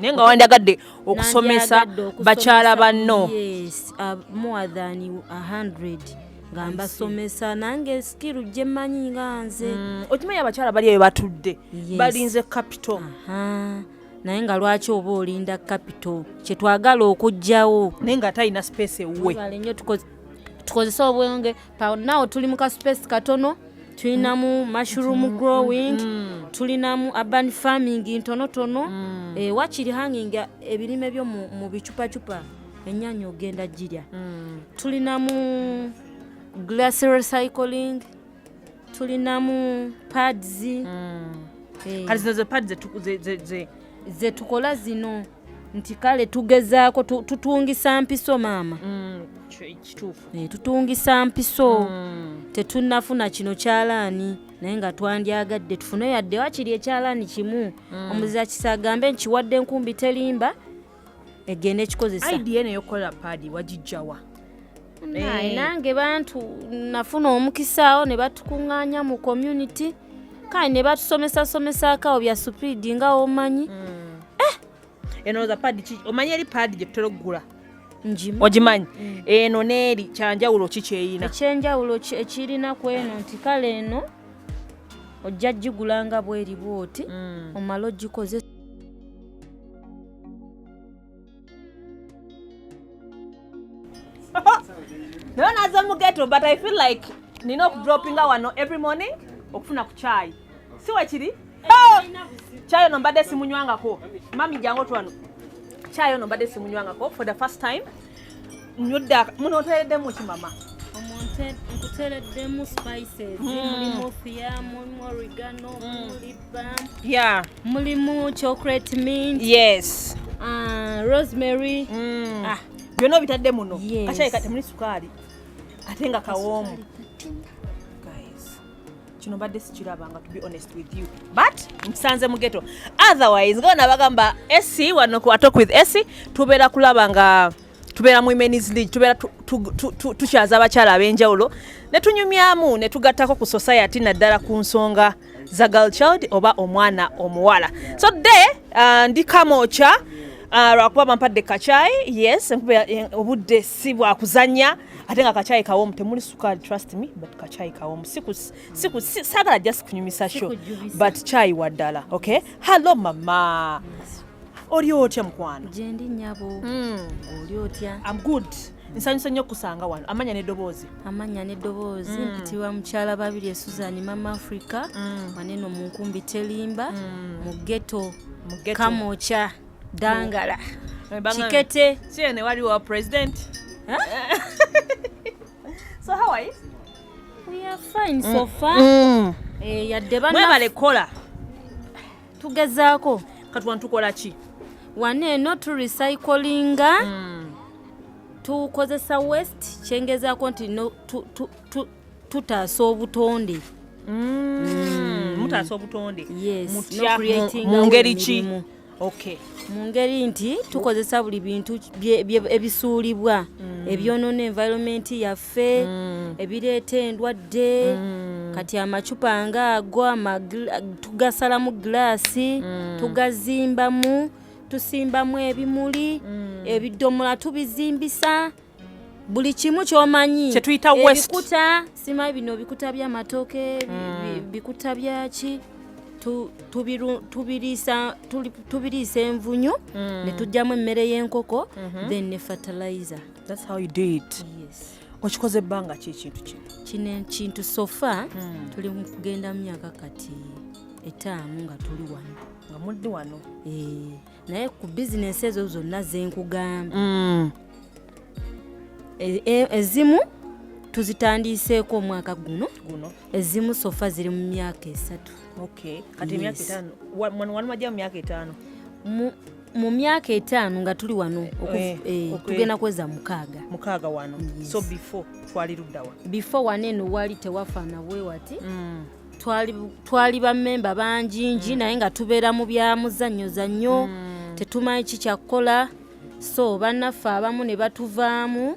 naye nga wandagadde okusomesa bakyala banno uh, more than 100 nga mbasomesa nange sikiru gye mmanyi nga nze mm, okimanyi abakyala bali eyo batudde balinze capital naye nga lwaki oba olinda capital kyetwagala okugjawo naye nga talina space ewuwe tukozese obwenge nawo tuli mu kasupesi katono tulinamu mushroom mm, mm, growing mm. tulinamu urban farming ntonotono eh, wakiri hanginga ebirime byo mu bicupacupa enyanya ogenda girya tulinamu glass recycling tulinamu pads mm. eh. kati zino ze pads zetukola zino nti kale tugezaako tutungisa mpiso maama mm, eh, tutungisa mpiso mm. tetunafuna kino kyalaani naye nga twandyagadde tufune yadde wakiri ekyalaani kimu mm. omuzirakisa agambe nkiwadde nkumbi terimba egenda ekikozesa idea nayo kola padi wagijjawa naye eh. nange bantu nafuna omukisaawo ne batukuŋŋaanya mu community kale ne batusomesasomesakawo bya supidi nga omanyi hmm. eh! eno za padi omanyi eri padi gye tutera okugula ogimanyi hmm. eno neeri kyanjawulo ki kyeyina ekyenjawulo ekirina ku eno nti kale eno ojja gigula nga bweri bwoti hmm. omala ogikozesa naye naze mugeto but i feel like nina okudropinga wano every morning okufuna ku kyayi si wekiri oh! kyayi ono mbadde simunywangako mami jangu otwano kyayi ono mbadde simunywangako for the first time nyudde muno oteereddemu ki mama nkutereddemu spices hmm. mulimu fia mulimu oregano hmm. mulimu libam yeah mulimu chocolate mint yes uh, rosemary mm. ah byonna obitadde muno yes. kakyayika temuli sukaali ate nga kawoomu kino badde sikirabanga to be honest with you but nkisanze mu geto otherwise nga bona bagamba esi wano ku atok with esi tubeera kulaba nga tubeera mu women's league tubeera tukyaza abakyala ab'enjawulo ne tunyumyamu ne tugattako ku society naddala ku nsonga za girl child oba omwana omuwala so de uh, ndi kamokya uh, lwakuba bampadde kacayi yes enkuba eh, obudde si bwakuzanya ate nga kachayi kawomu temuli sukali trust me but kachayi kawomu sagala just kunyumisa sho but chayi waddala okay hallo mama oli otya mukwano gyendi nyabo hmm. oli otya am good nsanyusa nnyo okusanga wano amanya nedoboozi amanya nedoboozi hmm. mpitibwa mukyala babiri esuzani mama africa hmm. waneno munkumbi telimba mu geto kamokya dangala kikete siyo ne waliwo president so how are you we are fine so mm. far mm. eh yadde bana mwebale kola tugezaako kati wano tukola ki wano eno tu recyclinga mm. tukozesa west kyengezaako nti no, tu, tu, tu, tutaasa obutonde mm. mm. mutaasa obutonde yes, no mu ngeri ki okay mu ngeri nti tukozesa buli bintu ebisuulibwa mm. ebyonoona environment yaffe mm. ebireeta endwadde mm. kati amacupa nga ago tugasalamu giraasi mm. tugazimbamu tusimbamu ebimuli mm. ebidomola tubizimbisa buli kimu kyomanyi kyetuyita ebikuta simayi bino bikuta byamatooke mm. bikuta byaki tubiriisa envunyu mm. ne tujjamu emmere y'enkoko mhm. then ne fertilizer that's how you do it yes okikoze ebbanga ki ekintu kino kino ekintu sofa mm. tuli kugenda mu myaka kati etaano nga tuli wano nga muddi wano eh. naye ku bizinesi ezo zonna zenkugamba mm. e, e, ezimu tuzitandiiseeko omwaka guno ezimu sofa ziri mu myaka esatu mu myaka etaano nga tuli wano eh, eh, tugenda kweza mukaaga mukaaga wano so before twali luddawa before wano eno wali tewafaana bwewati mm. twali bamemba banjingi mm. naye nga tubeera mu bya muzannyo zannyo mm. tetumanyi ki kyakukola so bannaffe abamu ne batuvaamu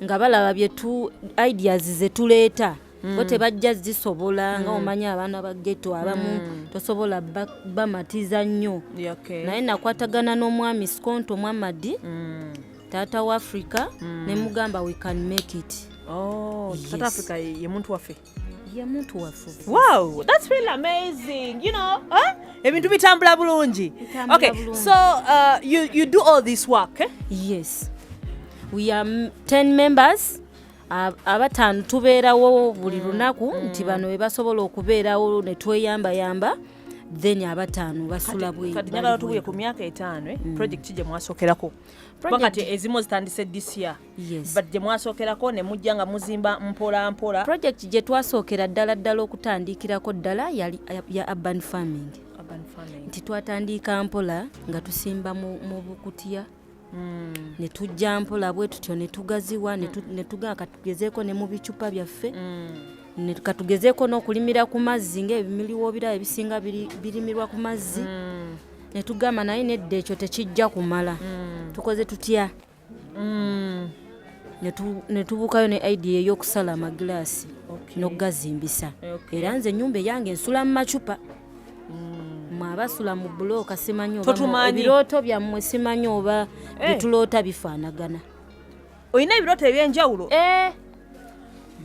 nga balaba byetu ideas zetuleeta mm. bo tebajja zisobola nga omanyi abaana ba geto abamu tosobola bamatiza nnyo naye nakwatagana n'omwami skonto mwamadi taata wa africa ne mugamba we can make it oh, taata africa ye muntu waffe Wow, that's really amazing. You know, huh? ebintu bitambula bulungi okay so uh, you, you do all this work eh? yes we are 10 members abataano tubeerawo buli mm, lunaku mm. nti bano bebasobola okubeerawo netweyambayamba then abataano basula bweyagala tubuye ku myaka etaano eh? mm. project gye mwasokerako kati ezimu zitandise disiya yes. but gye mwasookerako ne mujja nga muzimba mpola mpola project gye twasookera ddala ddala okutandiikirako ddala yali ya urban farming nti twatandiika mpola nga tusimba mu bukutiya Mm. ne tujja mpola bwe tutyo ne tugaziwa ne mm. tugaa katugezeeko ne mu bicupa byaffe mm. katugezeeko n'okulimira ku mazzi ngaebimiriwo birabo ebisinga birimirwa ku mazzi mm. ne tugamba naye nedda ekyo tekijja kumala mm. tukoze tutya mm. ne tubuukayo ne idea ey'okusala amagilaasi n'okugazimbisa era nze ennyumba eyange nsula mu macupa mm. mwabasula mu bulooka simanyi ebirooto byammwe simanyi oba eh. byetuloota bifaanagana olina ebirooto eby'enjawulo eh.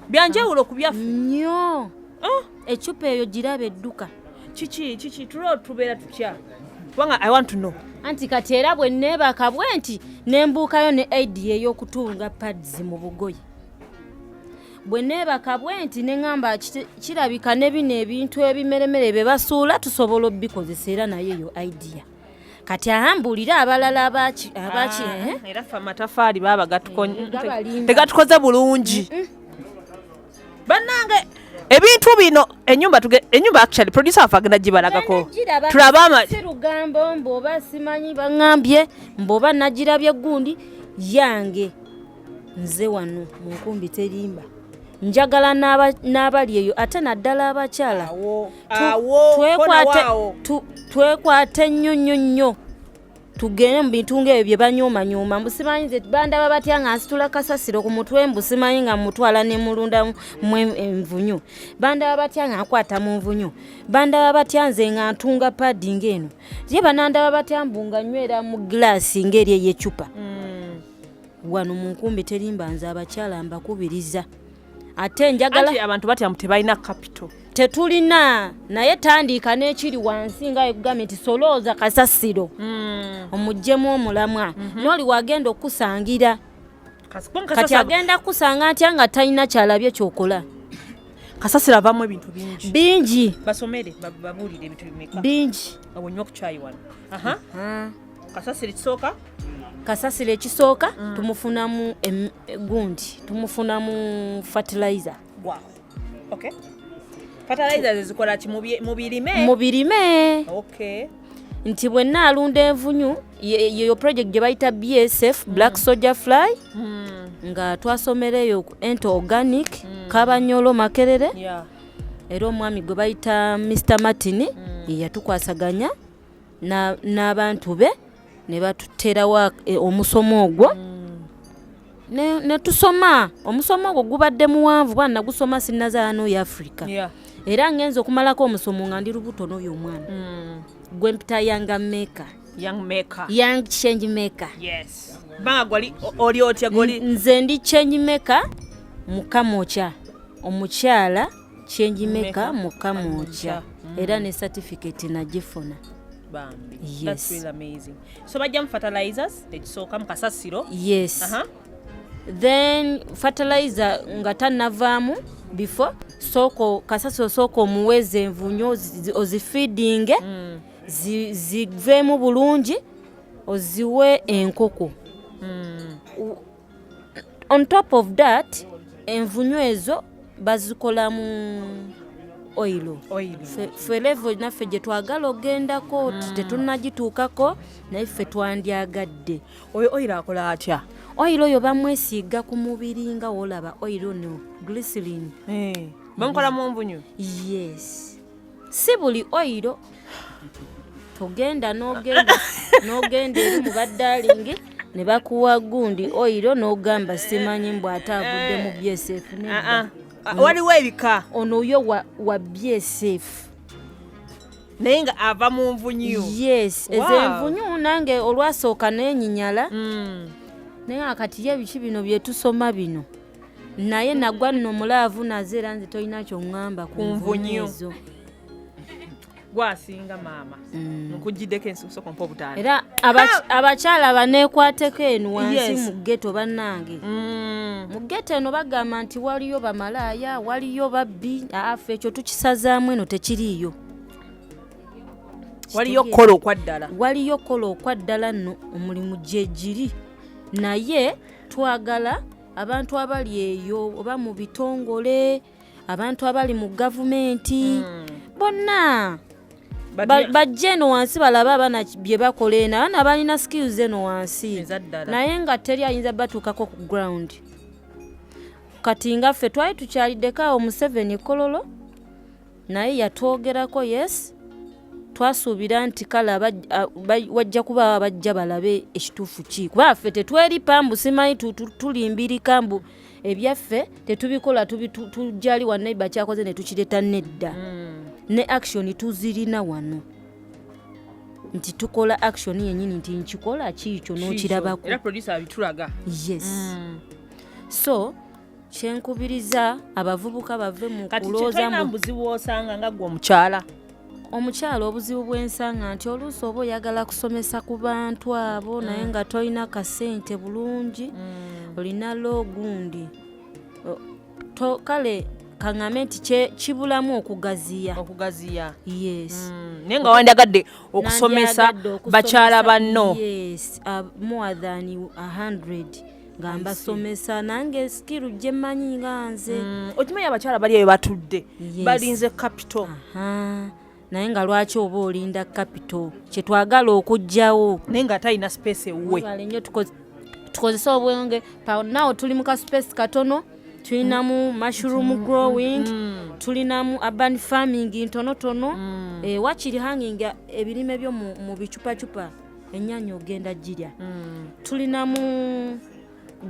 byanjawulo ku byaffe nnyo oh. ecupa eyo giraba edduka kiki kiki tuloo tubeera tutya kubanga i want to know anti kati era bwe neebaka bwe nti nembuukayo ne aidi ey'okutunga pads mu bugoye bwe neebaka bwe nti ne ŋamba kirabika ne bino ebintu ebimeremere bye basuula tusobola obikozesa era nayo eyo idea kati ahambuulire abalala abaki abaki ah, eh? era ffe amatafaali baaba eh, tegatukoze bulungi bannange ebintu bino enyumba tuge enyumba actually producer wafe agenda gibalagako tulaba ama lugambo mboba simanyi bangambye mboba nagirabye gundi yange nze wano mu nkumbi terimba njagala n'abali eyo ate naddala abakyala twekwate nnyo nnyo nnyo tugende mu bintu ngaebyo bye banyuumanyuuma mbu simanyi nze bandaba batya nga nsitula kasasiro ku mutwe mbu simanyi nga mutwala ne mulunda mu envunyu bandaba batya nga nkwata mu nvunyu bandaba batya nze nga ntunga paadi ngaeno ye banandaba batya mbu nga nywera mu gilaasi ngaeri ey'ecupa mm. wano mu nkumbi terimba nze abakyala mbakubiriza ate njagala abantu batya mu tebalina kapito tetulina naye tandiika n'ekiri wansi nga ekugambye nti solooza kasasiro hmm. omuggyemu omulamwa mhm. nooli wagenda okukusangira kati agenda kukusanga ntya nga talina kyalabye kyokola kasasiro avamu ebintu bingi bingi basomere babulire ebintu bimeka bingi awonywa okukyaywana kasasiro ekisooka kasasiro ekisooka mm. tumufunamu gundi tumufunamu fertilizer wow. okay. fertilizer zezikola ki mubirime mubirime okay. nti bwenna alunda envunyu yeyo project gye bayita bsf mm. black soldier fly mm. nga twasomera eyo ente organic mm. kabanyolo makerere yeah. era omwami gwe bayita mr martin mm. yeyatukwasaganya n'abantu be ne batuterawo e, omusomo ogwo mm. ne tusoma omusomo ogwo gubadde muwanvu kuba nagusoma sinnazaala n'oyo africa era ngenza okumalako omusomo nga ndi lubuto n'oyo omwana mm. gwe mpita yanga meka young maker young change maker yes banga gwali oli otya goli nze ndi change maker mukamokya omukyala change maker mu kamwokya mm. era ne certificate nagifuna bambi yes. that's really amazing so bajja mu fertilizers ekisooka mu kasasiro yes uh -huh. then fertilizer nga tanavaamu before soko kasasiro soko omuweze envunyo ozifeedinge mm. ziveemu bulungi oziwe enkoko mm. on top of that envunyu ezo bazikolamu oilo felevo naffe gye twagala okugendako mm. tetunagituukako naye ffe twandyagadde oyo oilo akola atya oilo oyo bamwesiiga ku mubiri nga wolaba oilo no glisilin eh, bamukola mu nvunyu yes si buli oyiro togenda nogenda nogenda eri mu baddalingi ne bakuwa gundi oyiro n'ogamba simanyi mbw ate avudde mu bsf ah, ah. waliwo ebika ono oyo wa bsf naye nga ava mu nvunyu yes ezenvunyu nange olwasooka nenyinyala mm. naye akati ye biki bino byetusoma bino naye nagwa nno mulaavu naze era nze tolina kyoŋŋamba ku nvunyo ezo gwasinga maama mm. nkujiddeko ensikusoko mpa obutaano era abakyala baneekwateko eno wansi mu geto bannange mm. mu geto eno bagamba nti waliyo bamalaaya waliyo babbi afe ekyo tukisazaamu eno tekiriiyo waliyo kola okwaddala waliyo kola okwaddala nno omulimu gyegiri naye twagala abantu abali eyo oba mu bitongole abantu abali mu gavumenti hmm. bonna bajja eno wansi balaba abaana bye bakola eno abaana balina skills eno wansi naye nga teri ayinza batuukako ku ground kati nga ffe twali tukyaliddeko awo museveni kololo naye yatwogerako yes twasuubira nti kale wajja kuba abajja balabe ekituufu ki kuba ffe tetweri pambu simanyi tulimbirika mbu ebyaffe tetubikola tujali wanaiba kyakoze netukireta nedda hmm. ne action tuzirina wano nti tukola action yenyini nti nkikola kiikyo nokirabako yes mm. so kyenkubiriza abavubuka bave mu kuloozamubuzibu osanga nga gwe omukyala omukyala obuzibu bwensanga nti oluusi oba oyagala kusomesa ku bantu abo mm. naye nga tolina kasente bulungi mm. olina loogundi kale kaŋame nti kibulamu okugaziya okugaziya yes mm. naye nga wandagadde okusomesa bakyala banno yes, uh, more than 100 nga mbasomesa nange sikiru gye mmanyi nga nze mm, okimanyi abakyala bali eyo batudde balinze kapito naye nga lwaki oba olinda kapito kyetwagala okugjawo naye nga atalina space ewuwe nyo tukozese obwenge nawo tuli mu ka space katono tulinamu mushroom mm, mm, growing tulinamu urban farming ntonotono eh, wakiri hanging ebirime byo mu bicupacupa ennyanya ogenda girya mm. tulinamu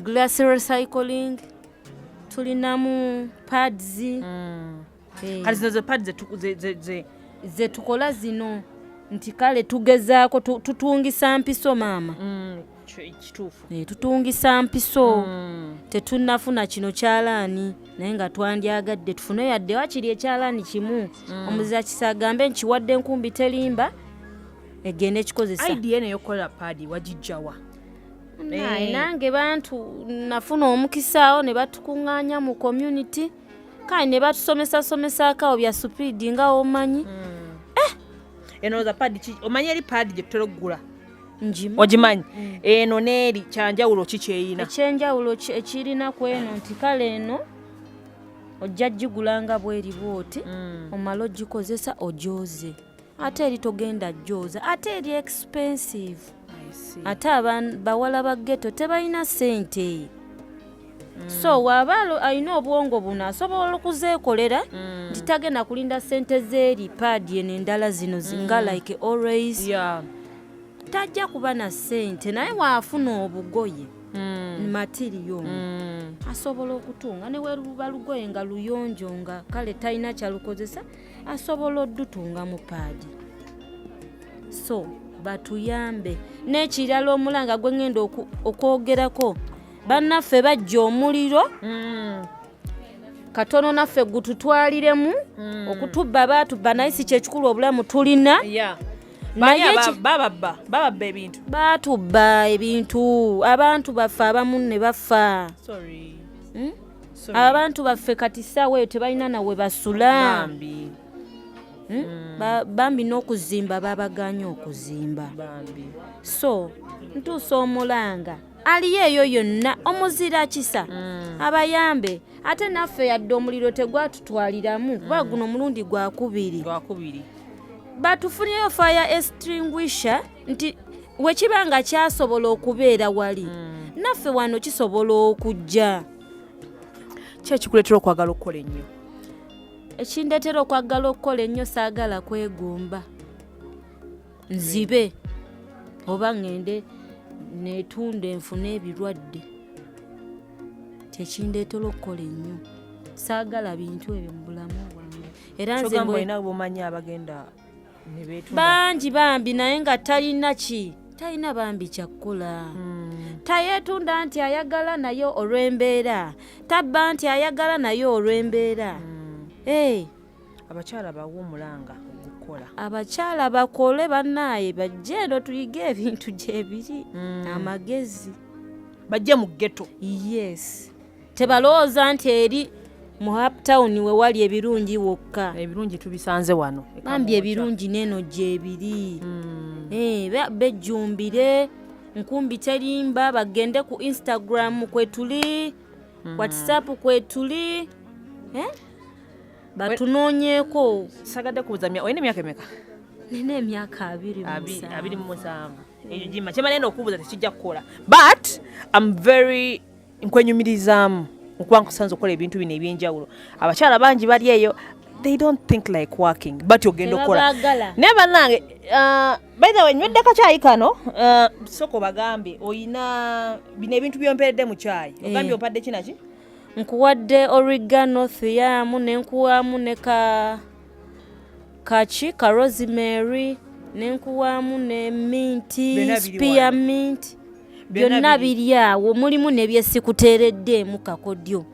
glass recycling tulinamu pads mm. eh. kati zino ze pads zetukola zino nti kale tugezaako tutungisa mpiso maama mm, eh, tutungisa mpiso mm. tetunafuna kino kyalaani naye nga twandyagadde tufune yadde wakiri ekyalaani kimu mm. omuzirakisa agambe nkiwadde enkumbi terimba egenda ekikozesa idea eno eyokukola paadi wagijjawa naye eh. nange bantu nafuna omukisaawo ne batukuŋŋaanya mu community kale ne batusomesasomesako awo bya supiidi nga omanyi hmm. eh! eno za paadi ki omanyi eri paadi gye tutera okugula ogimanyi hmm. eno neeri kyanjawulo ki kyeyina ekyenjawulo ekirina ku eno nti kale eno ojja gigula nga bweri bwoti hmm. omala ogikozesa ojoze ate eri togenda jooza ate eri expensive ate bawala ba geto tebalina sente mm. so waba alina obwongo buno asobola okuzeekolera mm. nti tagenda kulinda sente zeeri paadi eno endala zino mm. nga like always tajja kuba na sente naye waafuna obugoye matiriyo asobola okutunga neweruba lugoye nga luyonjo nga kale talina kyalukozesa asobola odutunga mu paadi so batuyambe n'ekirala omulanga gwe ngenda okwogerako bannaffe bajja omuliro mm. katono naffe gututwaliremu mm. okutubba baatubba naye si kyekikulu obulamu tulina yeah. bababba ebintu batubba ebintu abantu baffe abamu ne bafa hmm? abantu baffe kati saawa eyo tebalina nawe basula hmm? Hmm. bambi n'okuzimba babaganye okuzimba so ntuusa omulanga aliyo eyo yonna omuzira kisa hmm. abayambe ate naffe yadde omuliro tegwatutwaliramu kuba guno omulundi gwakubiri batufunyeyo fire extinguisher nti wekiba nga kyasobola okubeera wali mm. naffe wano kisobola okujja kyekikuleetera okwagala okukola ennyo ekindeetera okwagala okukola ennyo saagala kwegomba nzibe oba ŋŋende neetunda enfuna ebirwadde kyekindeetera okukola ennyo saagala bintu ebyo mu bulamu bwange era nze bwomanyi abagenda bangi bambi naye nga talina ki talina bambi kyakkola hmm. tayetunda nti ayagala naye olw'embeera tabba nti ayagala naye olw'embeera hmm. abakyala bawumulanga okukola abakyala bakole banaye bajje eno tuyige ebintu gyebiri hmm. amagezi bajje mu geto yes tebalowooza nti eri mu uptown we wali ebirungi wokka ebirungi tubisanze wano bambi ebirungi neeno gyebiri hmm. eh, bejjumbire nkumbi terimba bagende ku instagram kwetuli hmm. whatsapp kwetuli eh? batunoonyeeko sagadde kubuza olina emyaka emeka nina emyaka abiri mu musanvu ekyo gima kyemala ena okubuuza tekijja kukola but am very nkwenyumirizaamu nkuba nkusanze okukola ebintu bino ebyenjawulo abakyala bangi bali eyo they don't think like working but ogenda okukola naye bannange uh, by the way nywedde kakyayi kano uh, soko bagambye oyina bino ebintu byomperedde mu kyayi eh. ogambye opadde kinaki nkuwadde origano thiyamu nenkuwamu ne ka kaki ka rosemary nenkuwamu ne minti spear minti byonna biri awo mulimu nebyesikuteereddeemu kakodyo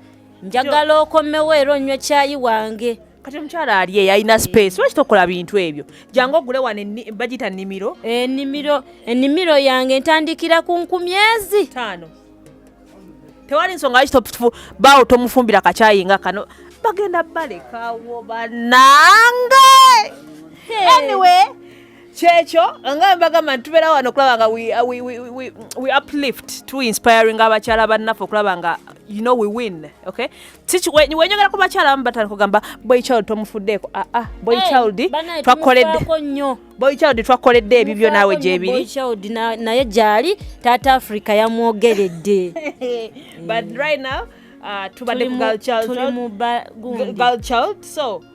njagala okomewo era onywe kyayi wange kati omukyala ali eyo alina space lwaki tokola bintu ebyo jangu ogule wano bagita nimiro enimiro enimiro yange ntandikira ku nkumyezi taano tewali nsonga lwaki baawo tomufumbira kakyayi nga kano bagenda balekawo banange anyway kyekyo nga mbagamba nti tubeera wano okulaba nga we uplift to inspiring abakyala bannaffe okulaba nga you know we win okay wenyogera ku bakyala abamu batandika kugamba boy child tomufuddeeko aa ah, ah, boy child twakoledde boy child twakoledde ebibyo naawe gyebiri naye gyali taata africa yamwogeredde but right now uh, tubadde ku girl child so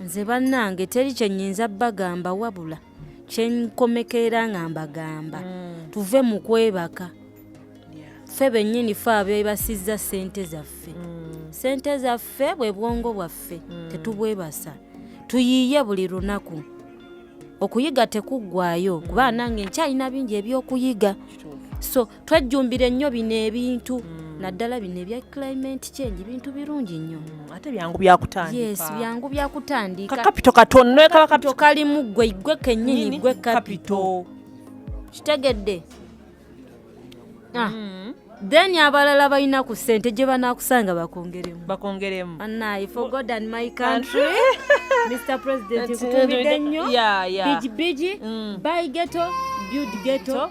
nze bannange teri kyenyinza bagamba wabula kyenkomekeera nga mbagamba mm. tuve mu kwebaka ffe bennyini fe abebasizza ssente zaffe mm. ssente zaffe bwe bwongo bwaffe mm. tetubwebasa tuyiiye buli lunaku okuyiga tekuggwayo kuba nange nkyalina bingi ebyokuyiga so twejjumbire nnyo bino ebintu mm. naddala bino ebya climate change bintu birungi nnyo mm, ate byangu byakutandika yes byangu byakutandika kapito katonno ekaba kapito kalimu gwe gwe kennyini gwe kapito kitegedde ah. mm. then abalala balina ku ssente gye banaakusanga bakongeremu bakongeremu anaye for god and my country mr president kutumidde nnyo bigibigi mm. by geto build geto